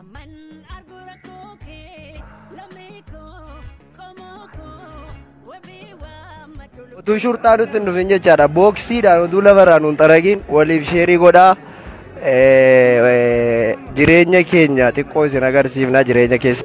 Amman arguu rakkoo kee lammii koo qomoo koo wabii waammadhu lubbuu utuu shurxaa nutti hin dhufin jechaadha booksiidhaan utuu lafarraa nuun xaragiin waliif sheerii godhaa Eh, eh, jireenya keenya xiqqoo isin agarsiifna jireenya keessa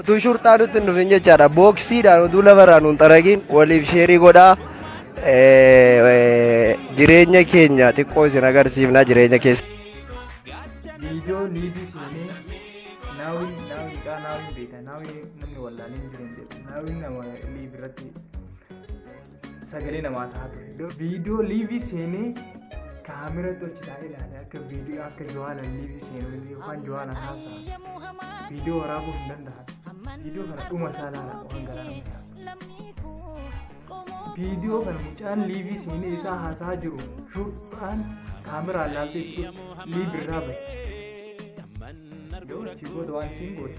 Utuu shurxaa nutti hin dhufin jechaadha. Booksiidhaan utuu lafarraa nuun xaragiin waliif sheerii godhaa. Jireenya keenya xiqqoo isin agarsiifna jireenya keessa. Viidiyoo liivii seenee naawwiin naawwiidhaa naawwiin beeka naawwiin namni wallaalee hin jiru hin jedhu naawwiin nama liiv irratti sagalee namaa ta'a ture. Iddoo viidiyoo liivii seenee kaamera tolchitaa ilaale akka viidiyoo akka Johaana liivii seenuu yookaan Johaana haasaa viidiyoo waraabuu hin danda'an. Viidiyoo kana dhuma isaa ilaala waan garaa Viidiyoo kana mucaan liivii seenee isaa haasaa jiru shurxaan kaameraan ilaaltee itti liivii irraa bahe. Yoo achi booda waan isiin goote.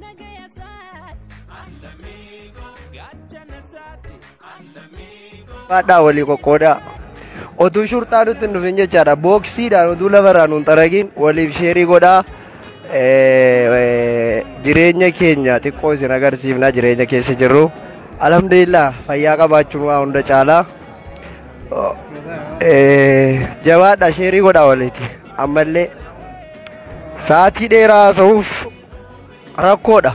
Nagaya saat. Baadhaa walii qoqqoodaa. Otuu shurxaa nutti hin dhufin jechaadha. Booksiidhaan otuu lafarraa nuun xaragiin waliif sheerii godhaa. Eh, eh, Jireenya keenya xiqqoo isin agarsiifna jireenya keessa jirru. Alhamdulillah fayyaa qabaachuun waa hunda caalaa. Oh, eh, Jabaadhaa sheerii godhaa waliiti. Ammallee Sa'aatii dheeraa haasa'uuf rakkoodha.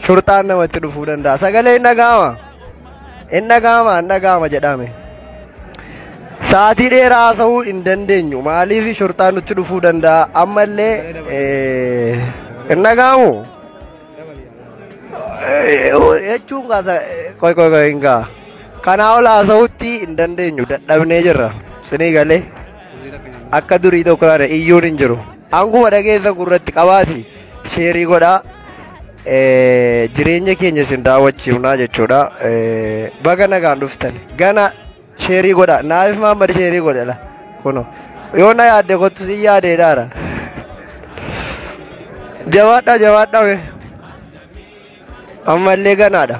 Shurxaan namatti dhufuu danda'a. Sagalee hin dhaga'ama. Hin dhaga'ama, hin dhaga'ama jedhame. Sa'aatii dheeraa haasa'uu hin dandeenyu. Maaliif shurxaan nutti dhufuu danda'a? Ammallee eh, hin dhaga'amu. Eh, Jechuun kaasa qoy qoy qoy hin ga'a. Kanaa ol haasa'uutti hin dandeenyu. Dadhabnee jirra. Sinii galee. Akka durii tokko kana iyyuun hin jiru. Hanguma dhageessa gurratti qabaati sheerii godhaa eh, jireenya keenya isin daawwachiifnaa jechuudha. Eh, Baga nagaan dhuftan gana sheerii godhaa naaf maammad sheerii godhela kuno yoo na yaadde kottu si yaadee daara. Jabaadhaa jabaadhaa. Ammallee ganaadha.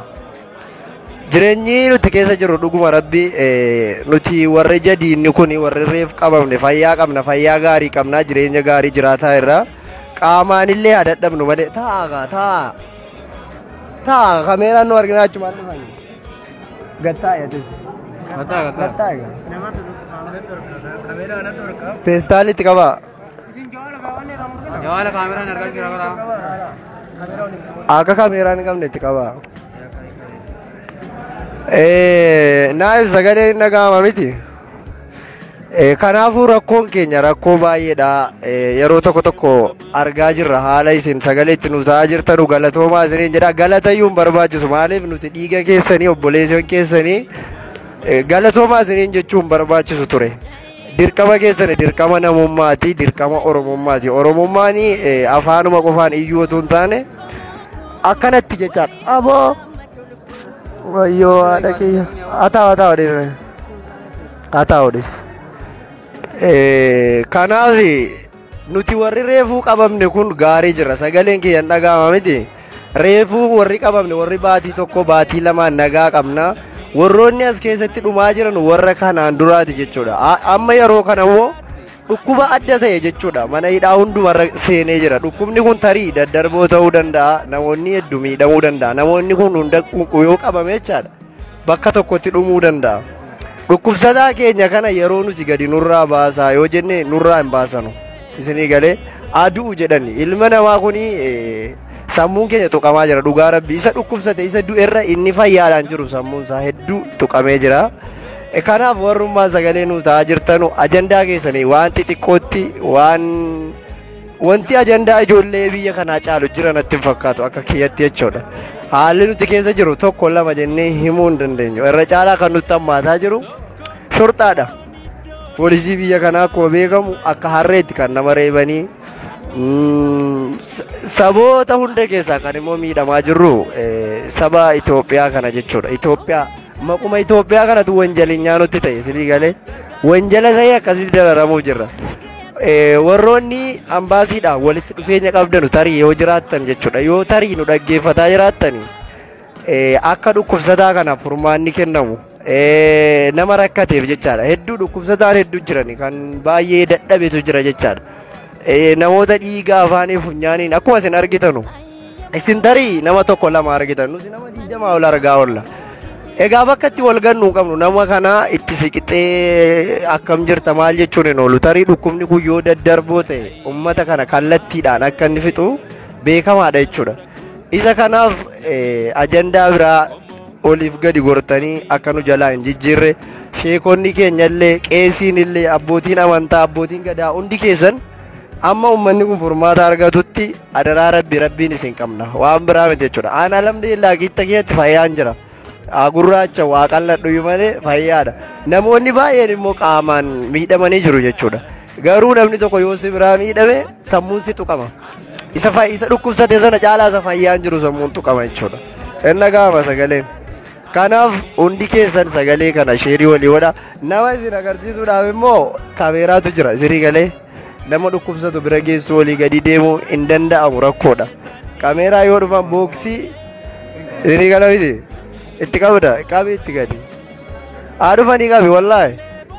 Jireenyi nuti keessa jirru dhuguma rabbi eh, nuti warri jadiinni kun warri reef qabamne fayyaa qabna fayyaa gaarii qabna jireenya gaarii jiraataa irra qaamaanillee haa dadhabnu malee taa'a kaa taa'a taa'a kameeraan nu argina achumaan dhufani gattaa yaadis gattaa gattaa feestaalitti qabaa. Jawaala kaameraan argaa jira karaa. Akka kaameeraa hin qabne itti qaba. Eh, Naayil sagalee hin dhaga'ama miti. Eh, Kanaafuu rakkoon keenya rakkoo baay'eedha. Eh, Yeroo tokko tokko argaa jirra haala isin sagalee itti nuuf ta'aa jirtanu galatoomaa isiniin jedha. Galatayyuu hin barbaachisu maaliif nuti dhiiga keessanii obboleessan keessanii eh, galatoomaa isiniin jechuun barbaachisu ture. Dirqama keessan dirqama namummaati, dirqama Oromummaati. Oromummaan eh, afaanuma qofaan iyyuu otoo hin taane akkanatti jechaa aboo wayyoo haadha kiyya ataa ataa odheera ataa odheessa. Eh, Kanaaf Nuti warri reefuu qabamne kun gaarii jirra sagaleen kiyyan dhaga'ama miti reefuu warri qabamne warri baatii tokko baatii lamaan nagaa qabna warroonni as keessatti dhumaa jiran warra kanaan duraati jechuudha A- amma yeroo kana immoo dhukkuba adda ta'e jechuudha mana hidhaa hundumarra seenee jira dhukkubni kun tarii daddarboo ta'uu danda'a namoonni hedduu miidhamuu danda'a namoonni kun hunda yoo qabame jechaadha bakka tokkotti dhumuu danda'a. Dhukkubsataa keenya kana yeroo nuti gadi nurraa baasaa yoo jenne nurraa hin baasanu. Isinii galee adu'u jedhani ilma namaa kuni eh, sammuun keenya tuqamaa jira dhugaa rabbi isa dhukkubsate isa du'erra inni fayyaadhaan jiru sammuun isaa hedduu tuqamee jira. Eh, Kanaaf warrummaa sagalee nu ta'aa jirtanu ajandaa keessanii waan xixiqqootti waan Wanti ajandaa ijoollee biyya kanaa caalu jira natti hin fakkaatu akka kiyyatti jechuudha. Haalli nuti keessa jiru tokko lama jennee himuu hin dandeenyu. Irra caalaa kan nutti hammaataa jiru shorxaadha. Poolisii biyya kanaa akkuma beekamu akka harreetti kan nama reebanii mm, sa- saboota hunda keessaa kan immoo miidhamaa jirru eh, saba Itoophiyaa kana jechuudha. Itoophiyaa maquma Itoophiyaa kanatu wanjalinyaa nutti ta'e silii galee wanjala ta'ee akkasitti dararamuuf jirra. Warroonni ambaasiidhaan walitti dhufeenya qabdanu tarii yoo jiraattan jechuudha yoo tarii nu dhaggeeffataa jiraattani akka dhukkubsataa kanaaf furmaanni kennamu nama rakkateef jechaadha hedduu dhukkubsataan hedduu jirani kan baay'ee dadhabetu jira jechaadha namoota dhiiga afaanii funyaaniin akkuma isin argitanu Isin tarii nama tokko lama argitan nuti nama digdamaa ol argaa oolla. Egaa bakka itti wal gannuu qabnu nama kana itti siqixee akkam jirta maal jechuun hin oolu tarii dhukkubni kun yoo daddarboo ta'e uummata kana kallattiidhaan akka inni fixu beekamaadha jechuudha. Isa kanaaf eh, ajandaa biraa oliif gadi gortanii akka nu jalaa hin jijjiirre sheekonni keenyallee qeesiinillee abbootiin amantaa abbootiin gadaa hundi keessan Amma ummanni kun furmaata argatutti adaraa rabbi rabbiin isin qabna waan biraa miti jechuudha. Aan alhamdulillah gitta keessatti fayyaan jira. Haa gurraacha waa qalladhuyyuu malee fayyaadha. Namoonni baay'een immoo qaamaan miidhamanii jiru jechuudha. Garuu namni tokko yoo si biraa miidhame sammuun si tuqama. Isa fay- isa dhukkubsate sana caalaa isa fayyaan jiru sammuun tuqama jechuudha. Inna gaama sagaleen. Kanaaf hundi keessan sagalee kana sheerii walii godha. Nama isin agarsiisuudhaaf immoo kameeraatu jira sirii galee nama dhukkubsatu bira geessuu olii gadi deemuu hin danda'amu rakkoodha. Kameeraa yoo dhufan booksii sirii gala miti itti qabda qabi itti gadi. Haa dhufanii qabi wallaahi.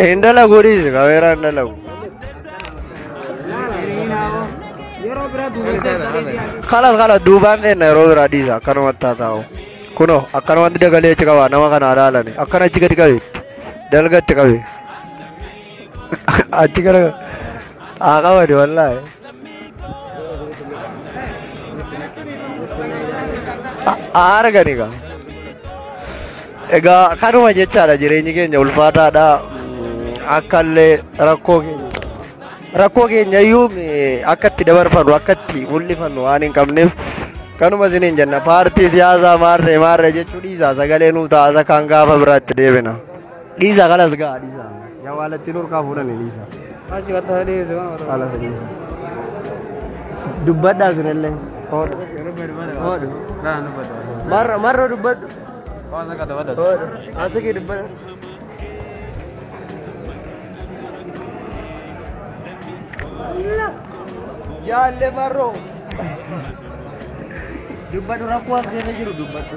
Hin dalagu dhiisi kameeraan dalagu. Kalas kalas duubaan seenna yeroo biraa dhiisa akkanumatti haa taa'u. Kunoo akkanumatti dagalee achi qabaa nama kana alaalani akkana achi gadi qabeetti dalga itti qabee. Achi gara haa qabani wallaahi. Haa argani gaa. Egaa kanuma jechaadha jireenyi keenya ulfaataadha. Akkallee rakkoo keenya. Rakkoo keenya iyyuu akka itti dabarfannu akka itti mul'ifannu waan hin qabneef kanuma isiniin jenna paartii siyaasaa maarree maarree jechuu dhiisaa sagalee nuu taasa kan gaafa biraatti deebina. Dhiisa kalas ga'a dhiisa. Yaa waalattiin urkaa fuudhani dhiisa. Achi gatta sadii seewan wata. Kalas dhiisa. Dubbadhaa sinillee. Hoodhu. Hoodhu. Laan dubbadha. Marra marra dubbadhu. Waan akka dubbadha. Hoodhu. Asiki dubbadha. Jaalle marroo. Dubbadhu rakkoo as keessa jiru dubbadhu.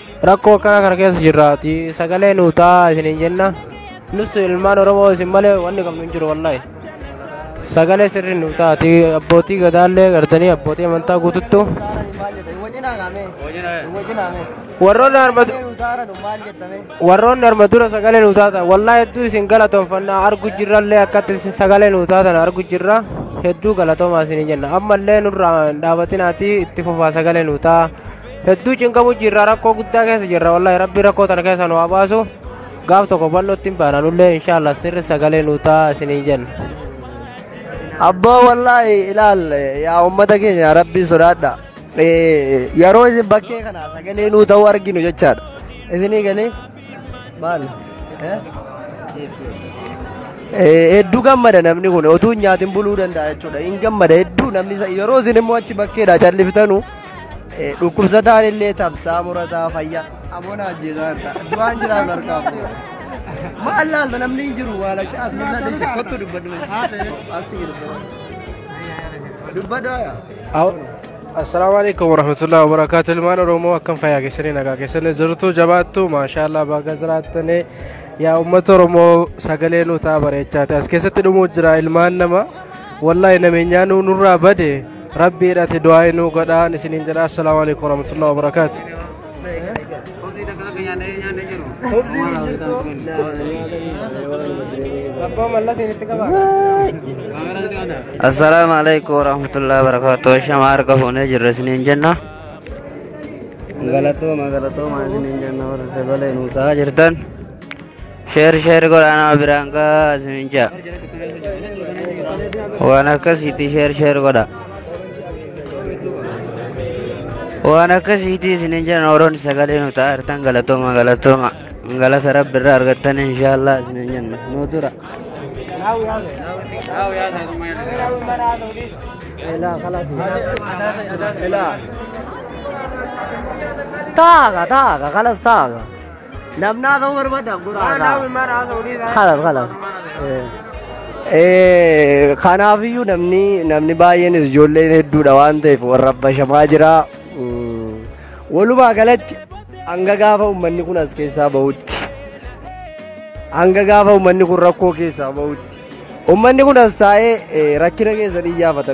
Rakkoo akkanaa kana keessa jirraati. Sagalee nuu ta'a isiniin jenna. Nus ilmaan Oromoo isin malee wanni qabnu hin jiru wallahi. Sagalee sirri nuu taati. Abbootii gadaallee gartanii abbootii amantaa guututtu. Warroonni arma warroonni arma dura sagalee nuu taatan wallahi hedduu isin galatoomfanna argu jirrallee akkatti isin sagalee nuu taatan argu jirra hedduu galatoomaa isin jenna ammallee nurraa hin dhaabatinaati itti fufaa sagalee nuu ta'a hedduu cinqamu jirra rakkoo guddaa keessa jirra wallahi rabbi rakkoo tana keessa nu haa baasu gaaf tokko bal'ootti hin baana nullee inshaallah sirri sagalee nu ta'a isinii jenna. abboo wallaahi ilaal yaa ummata keenya rabbii sodaadha Eh, yeroo isin bakkee kana sagalee nuu ta'uu arginu jechaadha isinii galee Maal? Hedduu gammada namni kun otuu hin nyaatin buluu danda'a jechuudha. Hin gammada hedduu namni isa- yeroo isin immoo achi bakkeedha calliftanu eh, dhukkubsataan illee tabsaa murataa fayyaa. Aboon ajjeesaa jirta. Du'aan jiraa harkaa fuudha. Maal laalta namni hin jiru waan akka as hin laalta ishee kottu dubbadhu. As hin dubbadhu. Dubbadhu yaa. Awo. Assalaamu alaikum warahmatullahi wabarakatuh ilmaan oromoo akkam fayyaa keessanii nagaa keessanii jirtu jabaattu maashaallah baga jiraattanii yaa uummata oromoo sagalee nu ta'a bareechaati as keessatti dhumuu jira ilmaan nama wallahi nameenyaa nu nurraa bade rabbiidhati du'aa inuu godhaan isiniin jedha assalaamu alaikum warahmatullahi wabarakatuh Assalamu alaikum warahmatullahi wabarakatuh. Shama harka fuunee jirra isiniin jenna. Galatooma galatooma isiniin jenna warra sagalee nuu ta'aa jirtan. Sheer sheer godhaa nama biraan gaa isinin jaa. Waan akkasiitii sheer sheer godhaa. Waan akkasiitii isinin jaa nooroon sagalee nu ta'a hirtan galatooma galatooma. Galata rabbi irraa argattan inshaallah isinin jenna. Nu dura. Taaga taaga kalas taaga. Namni haasa'uu barbaaddaaf gora haasa'a. Kalaaf kalaaf. Kanaafiyyuu namni namni baay'eenis ijoolleen hedduudha waan ta'eef warra bashamaa jira. Walumaa galatti hanga gaafa uummanni kun as keessaa bahutti. Hanga gaafa uummanni kun rakkoo keessaa bahutti. Uummanni kun as taa'ee rakkina keessan iyyaafata.